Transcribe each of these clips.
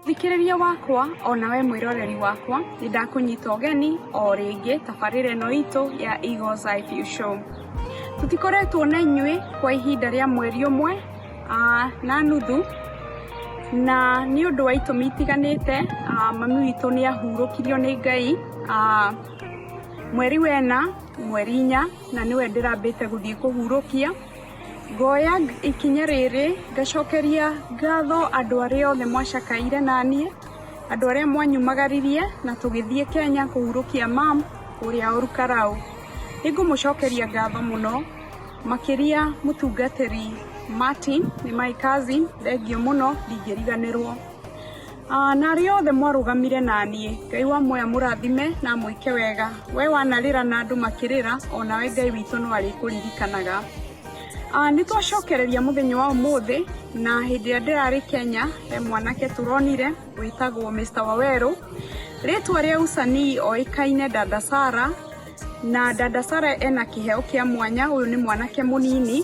Thikĩrĩria wakwa ona we mwĩroreri wakwa nĩ ndakũnyita ũgeni o rĩngĩ tabarĩra ĩno itũ ya Eagles Eye View Show. Tũtikoretwo na inyuĩ kwa ihinda rĩa mweri ũmwe ah, na nuthu na nĩ ũndũ wa itũmi itiganĩte ah, mami witũ nĩ ahurũkirio nĩ Ngai ah, mweri wena mweri inya na nĩwe ndĩrambĩte gũthiĩ kũhurũkia, ngoya ikinya rĩrĩ ngacokeria ngatho andũ arĩa othe mwacakaire naniĩ, andũ arĩa mwanyumagaririe na tũgĩthiĩ Kenya kũhurũkia mum ũrĩa Olkarau. Nĩngũmũcokeria ngatho mũno makĩria mũtungatĩri Martin, nĩ my cousin, thengiũ mũno ndingĩriganĩrwo. Na arĩa othe mwarũgamire na niĩ, Ngai wa muoyo amũrathime na amwĩke wega. Wee wanarĩra na andũ makĩrĩra, o nawe Ngai witũ no arĩkũririkanaga. Nĩ twacokereria mũthenya wa ũmũthĩ, na hĩndĩ ĩrĩa ndĩrarĩ Kenya, he mwanake tũronire wĩtagwo Mister Wawerũ. Rĩtwa rĩa usanii oĩkaine Dada Sarah, na Dada Sarah ena kĩheo kĩa mwanya, ũyũ nĩ mwanake mũnini.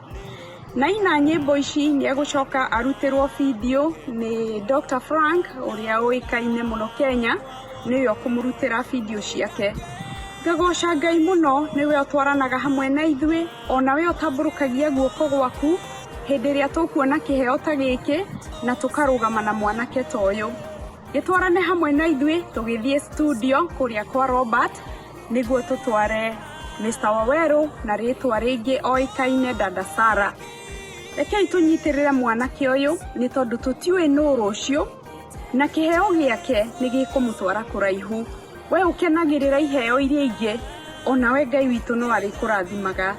Naina nyĩmbo ici nĩ egũcoka arutĩrwo bindiũ nĩ Dr. Frank ũrĩa ũĩkaine mũno Kenya, nĩwe ũkũmũrutĩra bindiũ ciake. Ngagoca Ngai mũno nĩwe ũtwaranaga hamwe na ithuĩ, ona we ũtambũrũkagia guoko gwaku hĩndĩ ĩrĩa tũkuona kĩheo ta gĩkĩ na tũkarũgama na mwanake ta ũyũ. Gĩtwarane hamwe na ithuĩ tũgĩthiĩ studio kũrĩa kwa Robert. Nĩguo tũtware Mister Waweru na rĩtwa rĩngĩ oĩkaine Dada Sarah. Rekei tũnyitĩrĩre mwanake ũyũ nĩ tondũ tũtiũĩ nũ rũciũ na kĩheo gĩake nĩ gĩkũmũtwara kũraihu. We ũkenagĩrĩra iheo iria ingĩ onawe Ngai witũ no arĩkũrathimaga.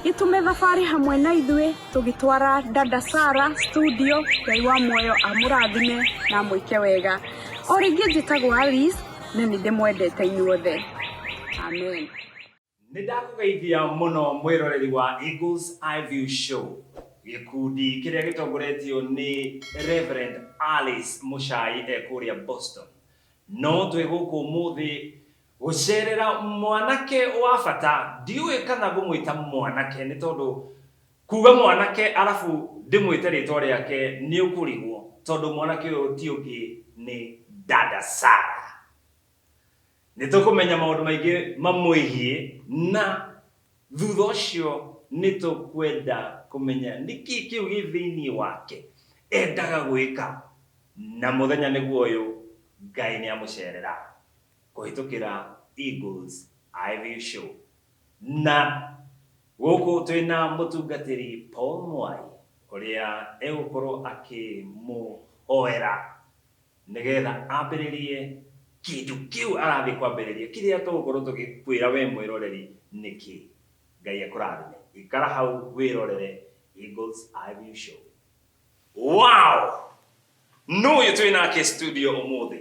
Gĩtũme thabarĩ hamwe na ithuĩ tũgĩtwara Dada Sarah studio. Ngai wa muoyo amũrathime na amwĩke wega. O rĩngĩ njĩtagwo Alice. Nĩ nĩ ndĩmwendete inyuothe. Amen. Nĩ ndakũgeithia mũno mwĩroreri wa Eagles Eye View Show. Gĩkundi kĩrĩa gĩtongoretio nĩ Rev. Alice Mũchai e kũrĩa Boston. No twĩ gũkũ ũmũthĩ gũcerera mwanake wa bata, ndiũĩ kana ngũmwĩta mwanake nĩ tondũ Kuga mwanake arabu ndĩmwĩte rĩtwa rĩake nĩũkũrigwo tondũ mwanake ũyũ ti ũngĩ nĩ Dada Sarah. Nĩtũkũmenya maũndũ maingĩ mamwĩgiĩ na thutha ũcio nĩtũkwenda kũmenya nĩkĩĩ kĩu gĩ thĩiniĩ wake endaga gwĩka na mũthenya nĩguo ũyũ Ngai nĩamũcerera kũhĩtũkĩra Eagles IVU Show. Na gũkũ twĩ na mũtungatĩri Paul Mwai ũrĩa egũkorwo akĩmũhoera nĩgetha ambĩrĩrie kĩndũ kĩu arathiĩ kwambĩrĩria. Kĩrĩa tũgũkorwo tũgĩkwĩra we mwĩroreri nĩ kĩ? Ngai akũrathime. Ikara hau wĩrorere Eagles Eye View Show. Wow! Nũ ũyũ twĩ nake studio ũmũthĩ?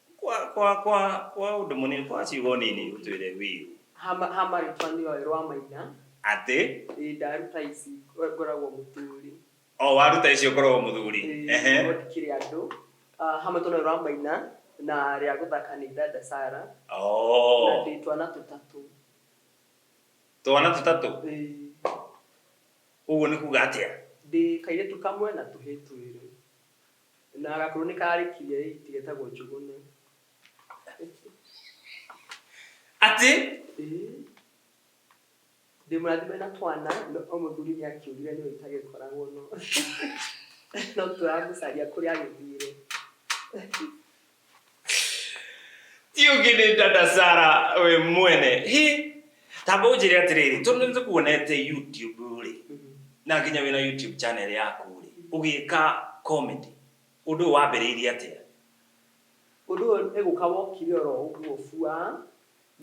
Kwa, kwa, kwa, kwa ũndũ mũnini, kwa ciugo nini ũtwĩre wiu Hama, hama rĩtwa nĩ oĩ rwa maina. atĩ Ĩĩ ndaruta ici ngoragwo mũturi. o waruta icio ngoragwo mũthuri. Ĩĩ, Ehe. no ndikĩrĩ andũ. Ah, Hama rĩtwa nĩ oĩ rwa maina na rĩa gũthaka nĩ dada Sarah na Oo. ndĩ twana tũtatũ. Twana tũtatũ. Ĩĩ. Ũguo nĩ kuga atĩa? Ndĩ kairĩtu kamwe na tũhĩĩ twĩrĩ. Na gakuru nĩ karikirie hiti getagwo njugune. Atĩ? Ĩĩ. Ndĩ mũrathime na twana no o mũthuri nĩ akĩũrire nĩwe itagĩkoragwo no no tũramũcaria kũrĩa agĩthire. tiũngĩnĩnda na sara we mwene hi tamba ũnjĩre atĩrĩrĩ tondũ nĩ kuonete youtube rĩ na nginya wĩna youtube channel yaku rĩ ũgĩka comedy ũndũ ũyũ wambĩrĩirie atĩa ũndũ ũyũ nĩ gũka wokire oro ũguo bua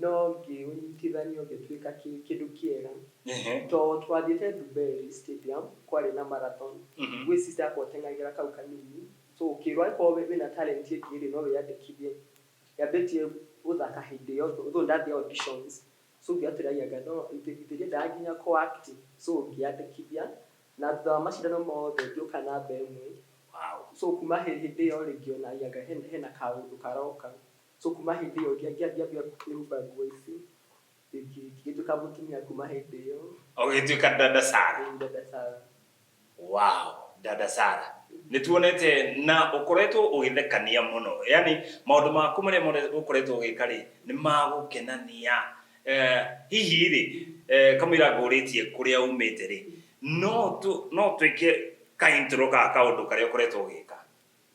no ngĩũnyitithania ũgĩtuĩka kĩ- kĩndũ kĩega Ehe. to twathiĩte Dubai stadium kwarĩ na marathon Mhm. gwĩcinda ngoteng'agĩra kau kanini so ũkĩrwo angĩkorwo wĩ- wĩna talent ĩngĩ rĩ no wĩyandĩkithie yambĩtie gũthaka hĩndĩ ĩyo tho- though ndathiĩ auditions so ngĩatũragia ngai no ithe ithe ndiendaga nginya kũ act so ngĩyandĩkithia na thutha wa macindano mothe ngĩũka namba ĩmwe so kuma hĩ- hĩndĩ ĩyo rĩ ngĩonagia ngai hena hena kaũndũ karoka So kuma hĩndĩ ĩyo ngĩa- ngĩa- ngĩambia kwĩhumba nguo ici ngĩ- ngĩ- ngĩtuĩka mũtumia kuma hĩndĩ ĩyo ũgĩtuĩka dada sara Ĩĩ, dada Sara. wow dada sara nĩ tuonete na ũkoretwo ũgĩthekania mũno yani maũndũ maku marĩa mothe ũkoretwo ũgĩka rĩ nĩ magũkenania eh, hihi rĩ eh, kamũira ngũrĩtie kũrĩa umĩte rĩ no tũ- no twĩke ka intro ga kaũndũ karĩa ũkoretwo ũgĩka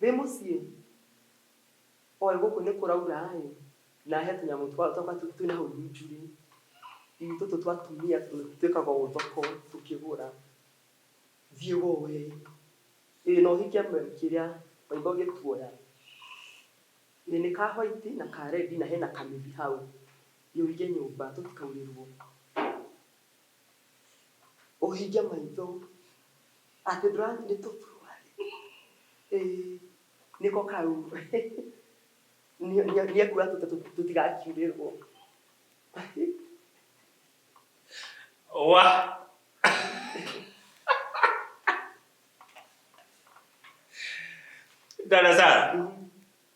Wĩ mũciĩ? Oĩ gũkũ nĩ kũraura ĩ, na he tũnyamũ twao twa matumbĩ twĩ na hau runju rĩ, ĩ tũtũ twa atumia twĩkaga ũũ thoko tũkĩgũra. Thiĩ woe ĩ. Ĩ na ũhike kĩrĩa maitho gĩtuoya. Ĩ nĩ ka white na ka red na he na kamĩtĩ hau. Ĩ ũige nyũmba tũtikaurĩrwo. ũhinge maitho atĩ ndũrathiĩ nĩ tũthuruarĩ ĩĩ nĩko kau Nĩ- nĩ- nĩekuga tũte tũ- tũtigakiurĩrwo wa dada sara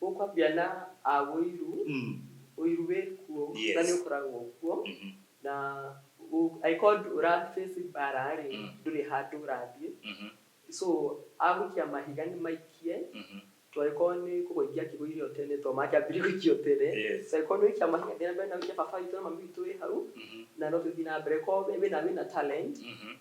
Gũkwambia na a ũiru, Mm. ũiru wĩ kuo Yes. na nĩ ũkoragwo kuo Mhm. na ũ- angĩkorwo ndũ- ũra-face mbara-rĩ Mm. ndũrĩ handũ ũrathiĩ Mhm. so agũikia mahiga nĩ maikie Mhm. to angĩkorwo nĩ kũgũithia akĩgũithia ũtene to makĩambirie gũikia ũtene Yes. so angĩkorwo nĩ ũikia mahiga thiĩ na mbere na ũikie baba witũ na mami witũ wĩ hau Mhm. na no tũthiĩ na mbere korwo wĩ- wĩna wĩna talent Mhm.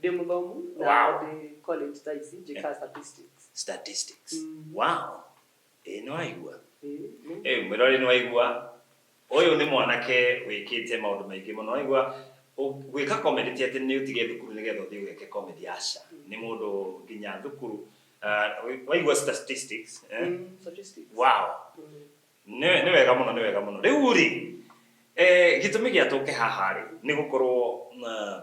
ndĩ mũthomu na Wow. ndĩ college thaa ici njĩkaga statistics statistics Mm. wow ĩĩ nĩ waigua Eh, nĩ- ĩĩ mwĩrorĩ nĩ waigua ũyũ nĩ mwanake wĩkĩte maũndũ maingĩ mũno waigua ũ- gwĩka comedy ti atĩ nĩ ũtige thukuru nĩgetha ũthiĩ ũgeke comedy aca nĩ mũndũ nginya thukuru ah, waigua statistics eh? Mm, statistics. wow Mm. nĩ nĩ wega mũno nĩ wega mũno rĩu rĩ eh, gĩtũmi gĩa tũke haha rĩ nĩ gũkorwo na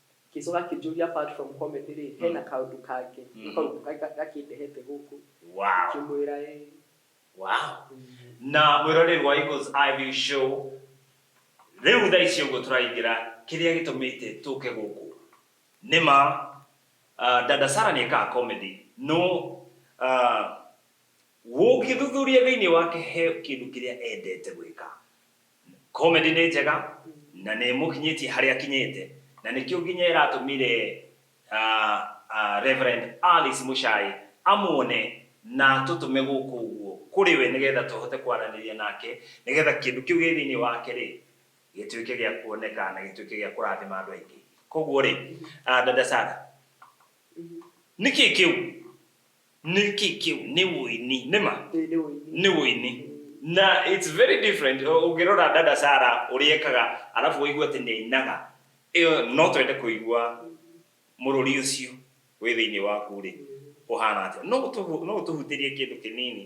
Ngĩcoka akĩnjũria apart from comedy rĩ, hena kaũndũ kangĩ Mm. kau ga- ga- gakĩndehete gũkũ. Wow. Ngĩmwĩra ĩĩ. Wow. Na mwĩroreri wa Eagles Eye View Show, rĩu thaa ici ũguo tũraingĩra kĩrĩa gĩtũmĩte tũke gũkũ. Nĩ ma, uh, Dada Sara nĩ ekaga comedy. No, uh, ũngĩthuthuria thĩinĩ wake he kĩndũ kĩrĩa endete gwĩka. Comedy nĩ njega na nĩ ĩmũkinyĩtie harĩa akinyĩte na nĩkĩo nginya ĩratũmire Rev. Alice Muchai amuone na atũtũme gũkũ ũguo kũrĩ we nĩgetha tũhote kwaranĩria nake nĩgetha kĩndũ kĩu gĩ thĩinĩ wake rĩ gĩtuĩke gĩa kuoneka na gĩtuĩke gĩa kũrathima andũ aingĩ. Koguo rĩ, Dada Sarah, nĩkĩ kĩu? Nĩ kĩ kĩu? Nĩ ũini. Nĩ ma? Ĩĩ, nĩ ũini. Nĩ ũini. Na it's very different ũngĩrora dada Sarah ũrĩa ekaga arabu wĩigue atĩ nĩ ainaga, ĩyo no twende kũigua mũrũri ũcio wĩ thĩinĩ waku-rĩ ũhana atĩa. No ũtũhutĩrie kĩndũ kĩnini?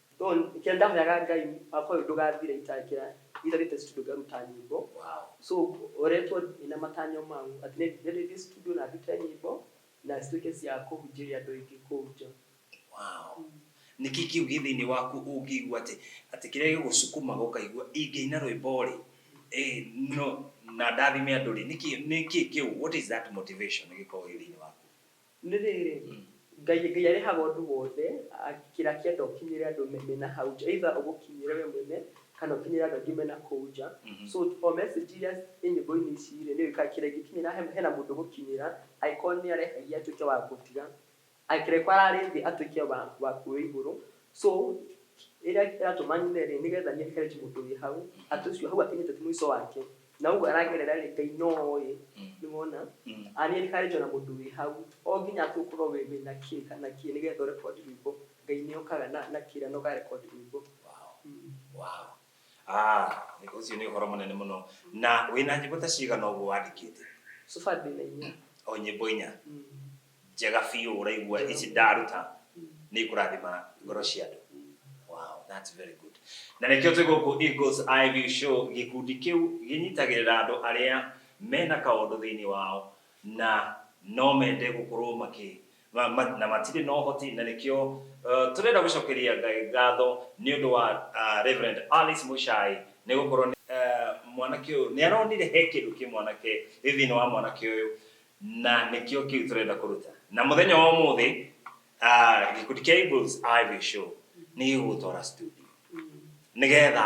Though kĩrĩa ndahoyaga ngai wakwa ũyũ ndũgathira itakĩra itharĩte studio ngaruta nyĩmbo Wow. so ngoretwo ĩna matanya mau atĩ nĩ- nĩ ndĩthiĩ studio na ndute nyĩmbo na cituĩke cia kũhunjĩria andũ aingĩ kũu nja Wow. Nĩkĩ kĩu gĩ thĩinĩ waku ũngĩigua atĩ atĩ kĩrĩa gĩgũcukũmaga ũkaigua ingĩina rwĩmbo-rĩ eh, no na ndathime andũ-rĩ nĩkĩ nĩkĩ kĩu what is that motivation gĩkoragwo gĩ thĩinĩ waku? Nĩ rĩrĩ, Ngai, Ngai arĩhaga ũndũ wothe, a, kĩrĩa akĩenda ũkinyĩre andũ me, me na hau nja, either ũgũkinyĩre we mwene, kana ũkinyĩre andũ angĩ me na kũu nja. So, o message iria ciĩ nyĩmbo-inĩ ici-rĩ, nĩ ũĩ kĩrĩa ingĩkinyĩra, he, hena mũndũ ũgũkinyĩra, angĩkorwo nĩ arehagia atuĩke wa gũtiga, angĩkorwo ararĩ thĩ atuĩke wa, wa kwĩ igũrũ. So, ĩrĩa ĩratũma nyine-rĩ, nĩgetha nĩ encourage mũndũ wĩ hau, atĩ ũcio hau akinyĩte ti mũico wake, na ũguo aragerera rĩ ngai no oĩ nĩ wona Mm. arĩa rikarĩtio na mũndũ wĩ hau o nginya atĩ ũkorwo wĩ wĩ na kĩ kana kĩ nĩgetha ũrekondi rwĩmbo ngai nĩ okaga na na kĩra na ũkarekondi rwĩmbo Wow. Mm. Wow. Ah, nĩ- ũcio nĩ ũhoro mũnene mũno na wĩna nyĩmbo ta cigana ũguo wandĩkĩte so far ndĩ na inya o nyĩmbo inya Mm. njega biũ ũraigua Njega ici biũ. ndaruta nĩ ikũrathima ngoro cia andũ wow that's very good na nĩkĩo twĩ gũkũ Eagles Eye View Show gĩkundi kĩu gĩnyitagĩrĩra andũ arĩa mena kaũndũ thĩinĩ wao na no mende gũkorwo makĩ ma, ma, na matirĩ na ũhoti na nĩkĩo uh, tũrenda gũcokeria Ngai ngatho nĩ ũndũ wa uh, Reverend Alice Mũchai nĩ gũkorwo nĩ, uh, mwanake ũyũ nĩ aronire he kĩndũ kĩ mwanake thĩinĩ wa mwanake ũyũ na nĩkĩo kĩu tũrenda kũruta na mũthenya wa ũmũthĩ ah, gĩkundi kĩa Eagles Ivy Show nĩ gĩgũgũtwara studio nĩgetha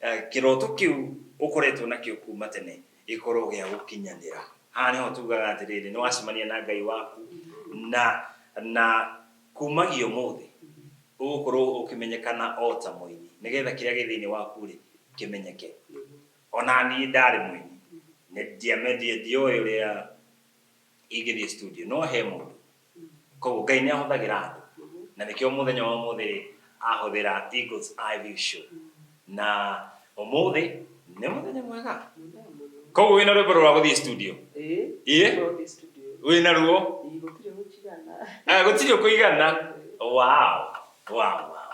eh, kĩroto kĩu ũkoretwo nakĩo kuma tene gĩkorwo gĩa gũkinyanĩra haha nĩho tugaga atĩrĩrĩ nĩ wacemania na ngai waku na na kumagia ũmũthĩ ũgũkorwo ũkĩmenyekana o ta mũini nĩgetha kĩrĩa gĩ thĩinĩ waku rĩ kĩmenyeke O na niĩ ndarĩ mũini, ndiũĩ ũrĩa ingĩthiĩ studio, no he mũndũ, kwoguo Ngai nĩ ahũthagĩra andũ, na nĩkĩo mũthenya wa ũmũthĩ rĩ, ahũthĩra Eagles IV Show, na ũmũthĩ nĩ mũthenya mwega, kwoguo wĩna rwĩmbo rwa gũthiĩ studio? Ĩĩ, wĩna ruo? Gũtirĩ ũkũigana. Wow! Wow! Wow!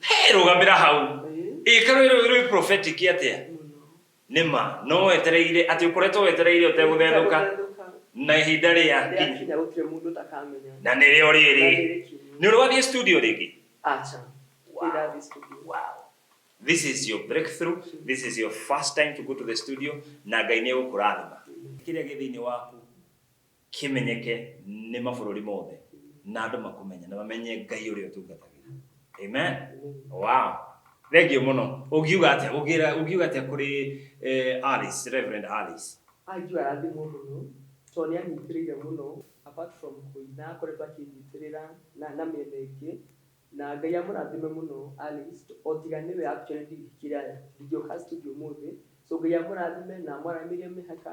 Hey, rũgamĩra hau ĩka rwĩ rwĩ prophetic atĩa nĩ ma no wetereire atĩ ũkoretwo wetereire ũtegũthethũka na ihinda rĩa kinya na nĩ rĩo rĩrĩ nĩ ũrĩ wathiĩ studio rĩngĩ this is your breakthrough this is your first time to go to the studio na ngai nĩ egũkũrathima kĩrĩa gĩ thĩinĩ waku kĩmenyeke nĩ mabũrũri mothe, na andũ makũmenye na mamenye Ngai ũrĩa ũtungatagĩra. Amen. Wow. Thengiũ mũno. Ũngiuga atĩa? Ũngĩra ũngiuga atĩa kũrĩ eh, Alice, Reverend Alice? Anju arathimwo mũno tondũ nĩ anyitĩrĩire mũno apart from kũina akoretwo akĩnyitĩrĩra na, na mĩena ĩngĩ na Ngai amũrathime mũno Alice o tiga nĩwe actually ndi- kĩrĩa ndingĩũka studio ũmũthĩ so Ngai amũrathime na amwaramĩrie mĩhaka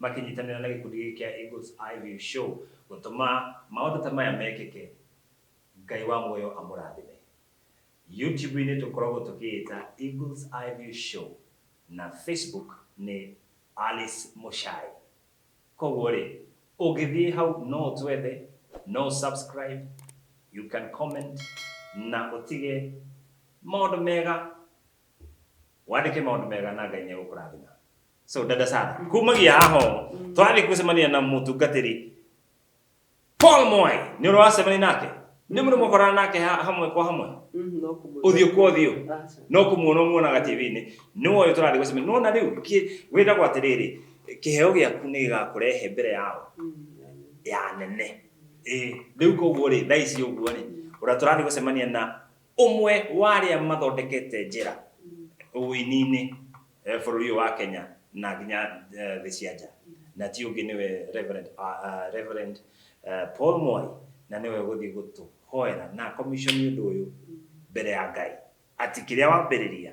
makĩnyitanĩra na gĩkundi gĩkĩ kĩa Eagles Eye View Show gũtũma maũndũ ta maya mekĩke. Ngai wa muoyo amũrathime. YouTube-inĩ tũkoragwo tũkĩĩta Eagles Eye View Show na Facebook nĩ Alice Muchai. Koguo rĩ, ũngĩthiĩ hau no ũtwethe, no ũ subscribe, you can comment na ũtige maũndũ mega, wandĩke maũndũ mega na Ngai nĩ egũkũrathima. so dada sana kumagia haho twari kusemania na mutungatiri Paul Moy ni uracemania nake ni muri mukorana nake ha- hamwe kwa hamwe Mm, no kumwona. uthio kwa uthio Ah, so. no kumuona muonaga tv-inĩ nĩ woyo tũrarĩ gũcemania nona rĩu wĩragwo atĩrĩrĩ kĩheo gĩaku nĩ gĩgakũrehe mbere yao Mm, yeah. ya nene Ĩĩ, rĩu koguo rĩ thaa ici ũguo rĩ ũrĩa tũrathiĩ gũcemania na Ũmwe wa arĩa mathondekete njĩra ũini-inĩ bũrũri ũyũ wa Kenya na nginya thĩ cia nja, na ti ũngĩ nĩwe Reverend Paul Mwai, na nĩwe ũgũthiĩ gũtũhoera na a commission ũndũ ũyũ mbere ya Ngai, atĩ kĩrĩa wambĩrĩria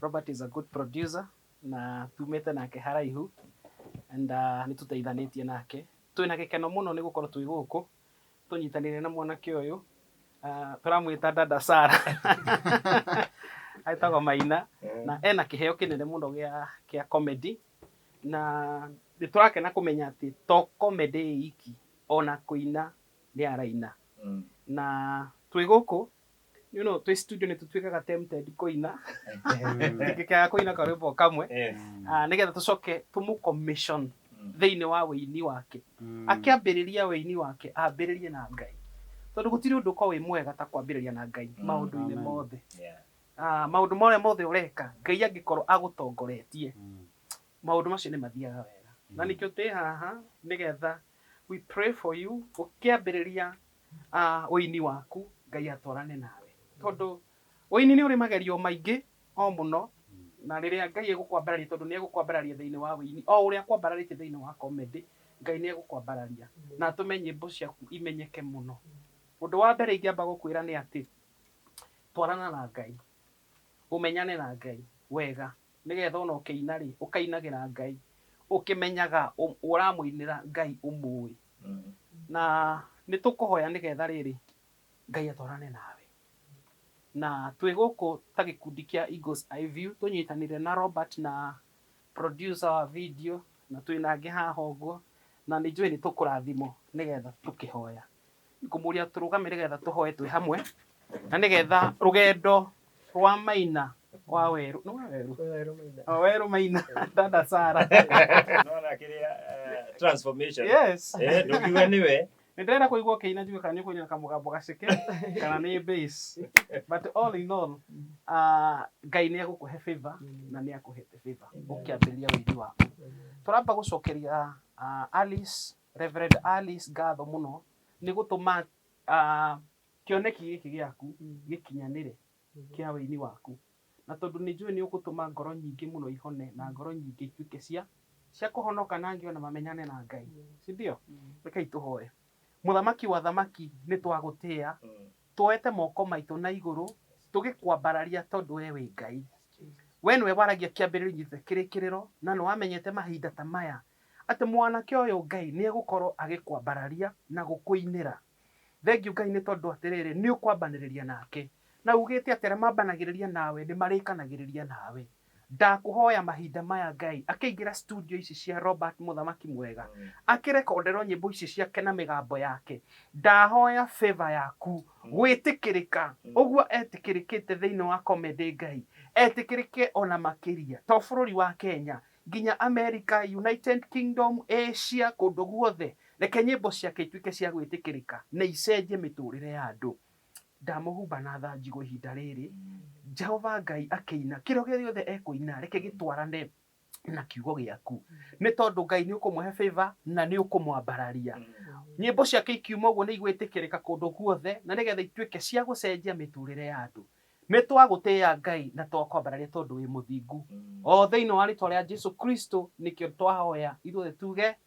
Robert is a good producer na tumĩte nake haraihu and nĩ tũteithanĩtie nake. Twĩ na gĩkeno mũno nĩ gũkorwo twĩ gũkũ tũnyitanĩire na mwanake ũyũ, tũramwĩta dada Sarah etagwo Maina na ena kĩheo kĩnene mũno gĩa comedy na nĩ tũrakena kũmenya atĩ to comedy ĩiki ona kũina nĩ araina na twĩ gũkũ you know, twĩ studio nĩ tũtuĩkaga tempted kũina tũkĩkaga kũina karwĩmbo kamwe Ah, nĩgetha tũcoke tũmũ commission thĩinĩ wa wĩini wake akĩambĩrĩria wĩini wake ambĩrĩrie na ngai tondũ gũtirĩ ũndũ ũkorwo wĩ mwega ta kwambĩrĩria na ngai Mm. maũndũ-inĩ Amen. mothe Ah, maũndũ marĩa mothe ũreka ngai angĩkorwo agũtongoretie maũndũ macio nĩ mathiaga wega na nĩkĩo tĩ haha nĩgetha We pray for you ũkĩambĩrĩria ah, ũini waku ngai atwarane nawe tondũ ũini nĩ ũrĩ magerio maingĩ o mũno na rĩrĩa ngai egũkwambararia tondũ nĩ egũkwambararia thĩinĩ wa ũini o ũrĩa akwambararĩtie thĩinĩ wa comedy ngai nĩ egũkwambararia na atũme nyĩmbo ciaku imenyeke mũno ũndũ wa mbere ingĩamba gũkwĩra nĩ atĩ twarana na ngai ũmenyane na ngai wega Nĩgeetha o na ũkĩina-rĩ, ũkainagĩra Ngai ũkĩmenyaga ũramũinĩra Ngai ũmũũĩ. Na nĩtũkũhoya nĩgeetha rĩrĩ, Ngai atwarane nawe. Na twĩ gũkũ ta gĩkundi kĩa Eagles Eye View tũnyitanĩire na Robert na producer wa video na twĩ na angĩ haha ũguo, na nĩnjũĩ nĩtũkũrathimwo nĩgeetha tũkĩhoya. Ngũmũria tũrũgame nĩgetha tũhoe twĩ hamwe na nĩgetha rũgendo rwa Maina wa Werũ nĩ wa Werũ Werũ Maina. Oh, Werũ Maina dada Sara Unaona kĩrĩa eh, transformation yes eh ndugiwe niwe nĩ ndĩrenda kũigua ũkĩina njue kana nĩ ũkũina na kamũgambo gaceke kana nĩ bass but all in all uh, Ngai nĩ egũkũhe favor na nĩ akũhete favor ũkĩambĩrĩria ũini waku tũramba gũcokeria uh, Alice Rev. Alice ngatho mũno nĩ gũtũma kĩoneki gĩkĩ gĩaku gĩkinyanĩre kĩa ũini waku, na tondũ nĩ njũĩ nĩ ũgũtũma ngoro nyingĩ mũno ihone na ngoro nyingĩ ituĩke cia cia kũhonoka na angĩ ona mamenyane na Ngai, si ndio? Rekei tũhoe. Mũthamaki wa athamaki nĩ twagũtĩa, Twoete moko maitũ na igũrũ tũgĩkwambararia tondũ wee wĩ Ngai. Wee nĩwe waragia kĩambĩrĩrio nginya kĩrĩkĩrĩro na nĩ wamenyete mahinda ta maya atĩ mwanake ũyũ Ngai nĩ egũkorwo agĩkwambararia na gũkũinĩra. Thengiũ Ngai nĩ tondũ atĩrĩrĩ nĩ ũkwambanĩrĩria nake na ugĩte atĩ arĩa mambanagĩrĩria nawe nĩ marĩkanagĩrĩria nawe. Ndakũhoya mahinda maya Ngai akĩingĩra studio ici cia Robert mũthamaki mwega akĩrekonderwo nyĩmbo ici ciake na mĩgambo yake ndahoya favour yaku gwĩtĩkĩrĩka ũguo etĩkĩrĩkĩte thĩinĩ wa comedy Ngai etĩkĩrĩke ona makĩria to bũrũri wa Kenya nginya America, United Kingdom, Asia kũndũ guothe reke nyĩmbo ciake ituĩke cia gwĩtĩkĩrĩka na icenjie mĩtũrĩre ya andũ. Ndamũhumba na tha njigũ ihinda rĩrĩ, Jehova Ngai akĩina. Kĩrĩa gĩothe ekũina, reke gĩtwarane na kiugo gĩaku. Nĩ tondũ Ngai nĩ ũkũmũhe favor na nĩ ũkũmwambararia. Nyĩmbo ciake ikiuma ũguo nĩ igwĩtĩkĩrĩka kũndũ guothe, na nĩgetha ituĩke cia gũcenjia mĩtũrĩre ya andũ. Nĩ twagũtĩĩa Ngai na twakwambararia tondũ wĩ mũthingu. O thĩinĩ wa rĩtwa rĩa Jesu Kristo nĩkĩo twahoya ithuothe tuge.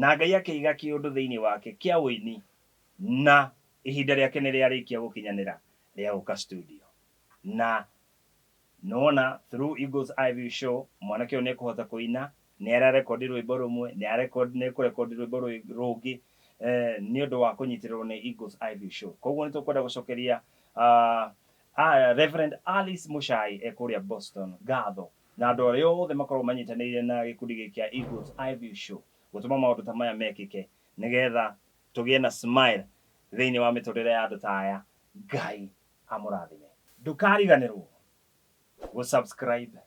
Na Ngai akĩiga kĩũndũ thĩinĩ wake kĩa ũini na ihinda rĩake nĩ rĩarĩkia gũkinyanĩra rĩa gũka studio. Na nĩwona through Eagle's Eye View Show mwanake ũyũ nĩ ekũhota kũina, nĩ ara record rwĩmbo rũmwe, nĩ arecord, nĩ ekũ record rwĩmbo rwĩ, rũngĩ nĩ ũndũ wa kũnyitĩrĩrwo nĩ Eagle's Eye View Show. Kwoguo nĩ tũkwenda gũcokeria Reverend Alice Mũchai e kũrĩa Boston ngatho Na andũ arĩa othe makoragwo manyitanĩire na gĩkundi gĩkĩ kĩa Eagles Eye View Show gũtũma maũndũ ta maya mekĩke nĩ getha tũgĩe na smile thĩinĩ wa mĩtũrĩre ya andũ ta aya. Ngai amũrathime. Ndũkariganĩrwo gũ subscribe,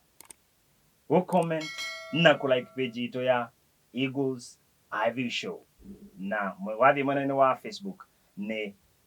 gũ comment na kũ like page itũ ya Eagles Eye View Show na wathiĩ mwena-inĩ wa Facebook nĩ